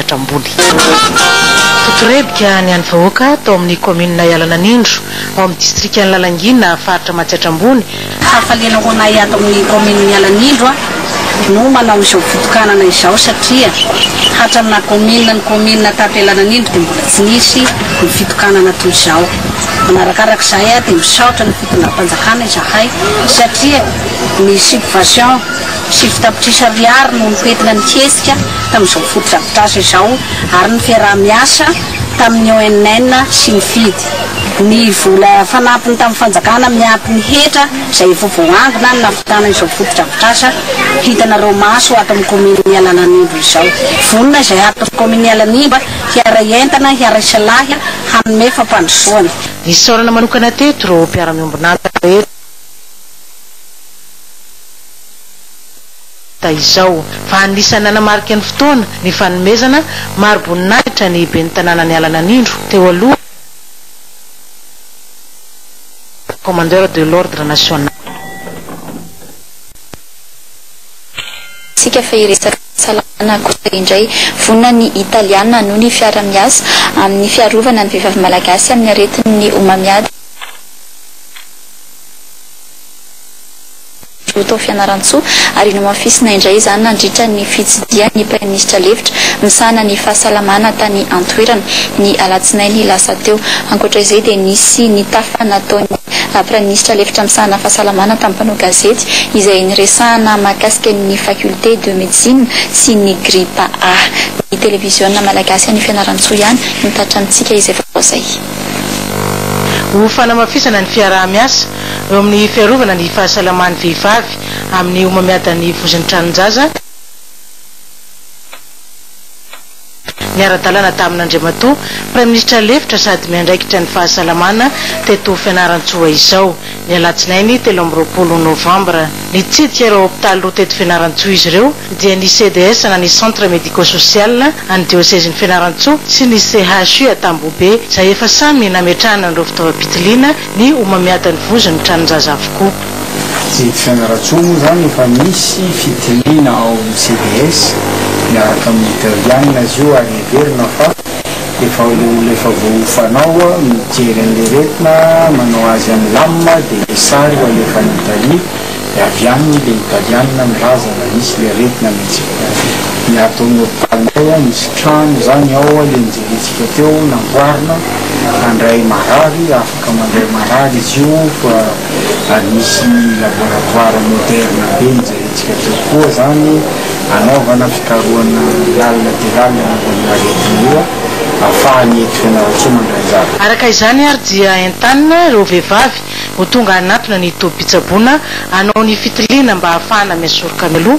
sehatra ambony. Fotorebika ny an'ny vahoaka tao amin'ny kaominina Ialananindro, ao amin'ny distrikan'i Lalangina, faritra Matsiatra Ambony, Hafaliana ho anay ato amin'ny kaominin'i Ialanindro no manao izao fitokanana izao satria hatramin'ny naha kaominina ny kaominina tato Ialananindro dia mbola tsy nisy ny fitokanana toy izao. Manarakaraka izay dia misaotra ny fitondram-panjakana izahay satria ny subvation. Sivy tapitrisa ariary no nifetina ny hetsika tamin'izao fotodrafitrasa izao ary ny fiaraha-miasa tamin'ny ONN sy ny FID. Ny vola fanampiny tamin'ny fanjakana miampy ny hetra izay efa voaangona no nahavitana izao fotodrafitrasa hitanareo maso ato amin'ny kaominin'i Alananimba izao. Vonona izay haton'ny kaominin'i Alanimba hiaray entana, hiaray salahy, hanome fampandrosoana. Nisaorana manokana teto ireo mpiara-miombon'antoka rehetra. da izao, fa anisan'ny nanamarika ny fotoana ny fanomezana mari-boninahitra ny ben'ny tanàna niala nanindro teo aloha ny Commandeur de l'Ordre National. Tsika fa hiresaka fahasalamana akosa indray. Vonona ny Italiana hanohy ny fiara-miasa amin'ny fiarovana ny vehivavy malagasy amin'ny aretin'ny homamiady. Joe tao Fianarantsoa ary nomafisina indray izany nandritra ny fitsidihan'ny Praiminisitra lefitra misahana ny fahasalamana tany an-toerana, ny alatsinainy lasa teo. Ankoatra izay dia nisy nitafa nataon'ny Praiminisitra lefitra misahana fahasalamana tamin'ny mpanao gazety izay niresahana mahakasika ny Faculté de Médecine sy ny gripa A. Ny Televiziona Malagasy any Fianarantsoa ihany no tratrantsika izay vaovao izay. Ho fanamafisana ny fiaraha-miasa eo amin'ny fiarovana ny fahasalaman'ny vehivavy amin'ny homamiadan'ny vozon'ny tranon-jaza, niara-dalana tamin'Andriamatoa Praiminisitra lefitra sady miandraikitra ny fahasalamana teto Fianarantsoa izao, Ny alatsinainy telo amby roapolo novambra, nitsidika ireo hopitaly roa teto Fianarantsoa izy ireo, dia ny CDS na ny Centre Medico-Social an'ny Diosezin'i Fianarantsoa sy ny CHU Antambohobe, izay efa samy nametrahana an'ireo fitaovam-pitiliana ny homamiadan'ny vozon'ny tranon-jaza avokoa. Ny eto Fianarantsoa moa izany efa misy fitiliana ao amin'ny CDS miaraka amin'ny Italiana izy io ary heverina fa. efa olona efa voaofanao mijery an'leretina manao azy any lam de le sary ho alefa any Italie de avy any le italianina milaza na misy le aretina mintsy ny ato amin'ny hopitalinay a misy trano zany ao le nijeritsika teo namboarina handray marary Ka mandray marary izy io fa ary misy laboratoire moderne be nijerentsika teo koa izany hanaovana fikarohana lalina dia lalina momba an'io aretina io ahafahan'i Hery Fianarantsoa mandray anjara. Araka izany ary dia entanina ireo vehivavy ho tonga hanatona ny tobim-pitsaboana hanao ny fitiliana mba hahafahana miha soroka mialoha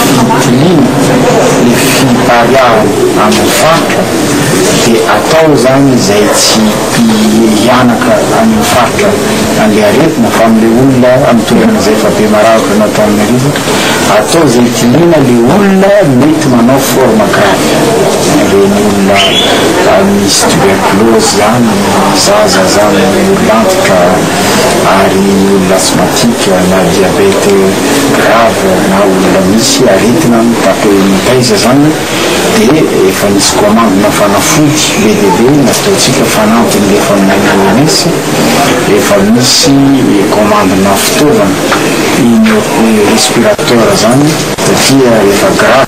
Fitiliana ny fipariahana amin'ny faritra dia atao izany izay tsy hianaka any amin'ny faritra an'ilay aretina fa amin'ilay olona amin'ny toerana izay efa be maravitra nataon'ny rivotra, atao izay hitiliana ilay olona mety manao forme grave, ireny olona misy tuberculose ihany, ny zaza izany, ny olona antitra ary ny olona asthmatique na diabète. grave na olona misy aretina mitaky hoe mitaiza izany dia efa nisy commande-na fanafody be dia be nazotoantsika fanampiny rehefa maina OMS, efa misy commande-na fitaovana iny respirateur izany satria rehefa grave.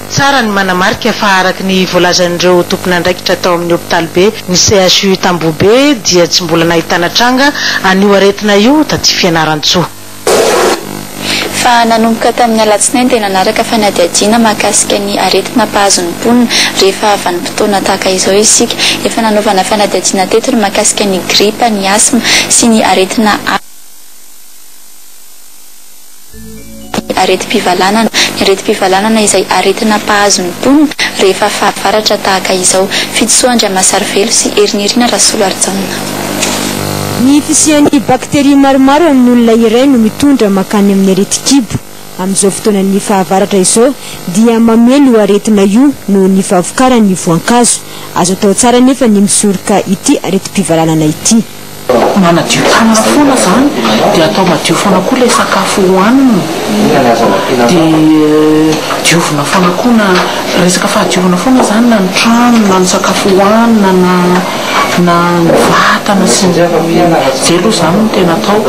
Tsara ny manamarika fa araka ny voalazan'ireo tompon'andraikitra tao amin'ny hopitalibe ny CHU Tambohobe dia tsy mbola nahitana tranga an'io aretina io taty Fianarantsoa. Fa nanomboka tamin'ny alatsinainy dia nanaraka fanadihadiana mahakasika ny aretina mpahazo ny mponina rehefa vanim-potoana tahaka izao isika. Efa nanaovana fanadihadiana teto ny mahakasika ny gripa, ny asma sy ny aretina hafa. aretim-pivalanana. Ny aretim-pivalanana izay aretina mpahazo ny mponina rehefa fahavaratra tahaka izao. Fitisoa Andriamasarivelo sy Herinirina Rasolarijaona. Ny fisian'ny bakteria maromaro amin'ny olona iray no mitondra mankany amin'ny aretin-kibo. Amin'izao fotoanan'ny fahavaratra izao dia mamely io aretina io noho ny fahavokaran'ny voankazo. Azo atao tsara anefa ny misoroka ity aretim-pivalanana ity. Manadio tanana foana zany dia atao madio foana koa ilay sakafo hohanina dia diovina foana koa na resaka fahadiovana foana zany na ny trano na ny sakafo hohanina na na ny vatana sy ny zay aloha zany no tena atao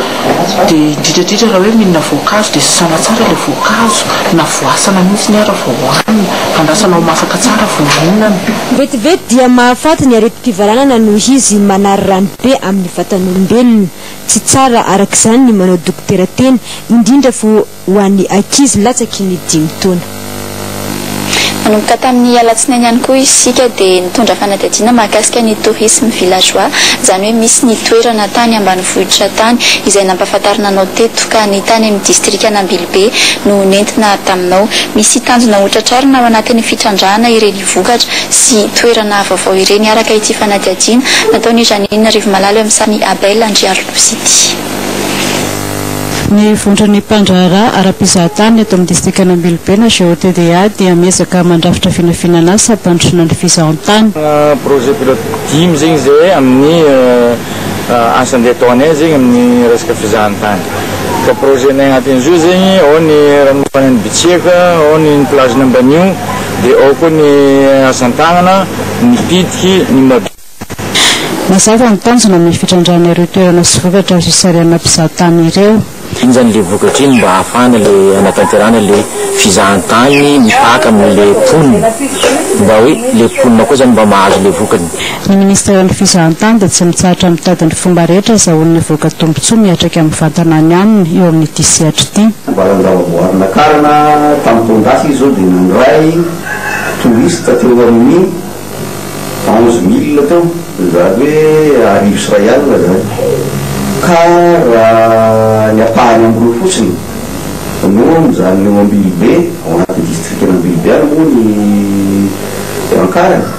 dia indrindra indrindra raha hoe mihinana voankazo dia sasana tsara ilay voankazo na voasana mihitsy ary vao hohanina andrasana ho masaka tsara vao mihinana Vetivety dia mahafaty ny aretim-pivalanana noho izy manary rano be amin'ny vatan'olombelona. Tsy tsara araka izany ny manao dokotera tena, indrindra fa ho an'ny ankizy latsaky ny dimy taona. Nanomboka tamin'ny alatsinainy ihany koa isika dia nitondra fanadihadiana mahakasika ny tourisme villageois, izany hoe misy ny toerana tany ambanivohitra tany izay nampahafantarina anao teto, ka ny tany amin'ny distrikan'Ambilobe no nentina taminao. Misy tanjona hotratrarina ao anatin'ny fitrandrahana ireny. vokatra sy toerana vaovao ireny araka ity fanadihadiana nataon'i Janine Rivomalalo eo amin'ny sarin'i Abel Andriarolosy ity. Ny Vondron'ny mpandraharaha ara-pizahatany eto amin'ny distrikan'Ambilobe na GOTDA dia miezaka mandrafitra vinavinanan asa hampandrosoana ny fizahantany. Projet pilote dimy zegny zay amin'ny asa andeha ataonay zegny amin'ny resaka fizahantany. Fa projet-nay agnatin'izy io zegny ao ny ranomafanan'i Bitsiaka, ao ny ny plage-n'Ambanio, Dia ao koa ny asan-tanana, ny pitiky, ny mab. Mazava ny tanjona amin'ny fitrandrahana ireo toerana sy vokatra azo isarihanana mpizaha tany ireo. Iny izany ilay vokatra iny mba ahafahana ilay hanatanterahana ilay fizahantany mipaka amin'ilay mponina, mba hoe ilay mponina koa izany mba mahazo ilay vokany. Ny Ministeran'ny Fizahantany dia tsy mitsahatra mitady ny fomba rehetra azahoany hivoaka tombontsoa miatrika amin'ny vantana any aminy eo amin'ity sehatra ity. Ambaran-javaboarinà karana tamin'ny taon-dasa izy izao dia nandray touriste teo amin'ny onze mille teo, izany hoe arivo sy iray alina izany, ka raha ny ampahany amin'ireo fotsiny no mijanona eo Ambilobe, ao anatin'ny distrikan'Ambilobe any moa ny an-karana.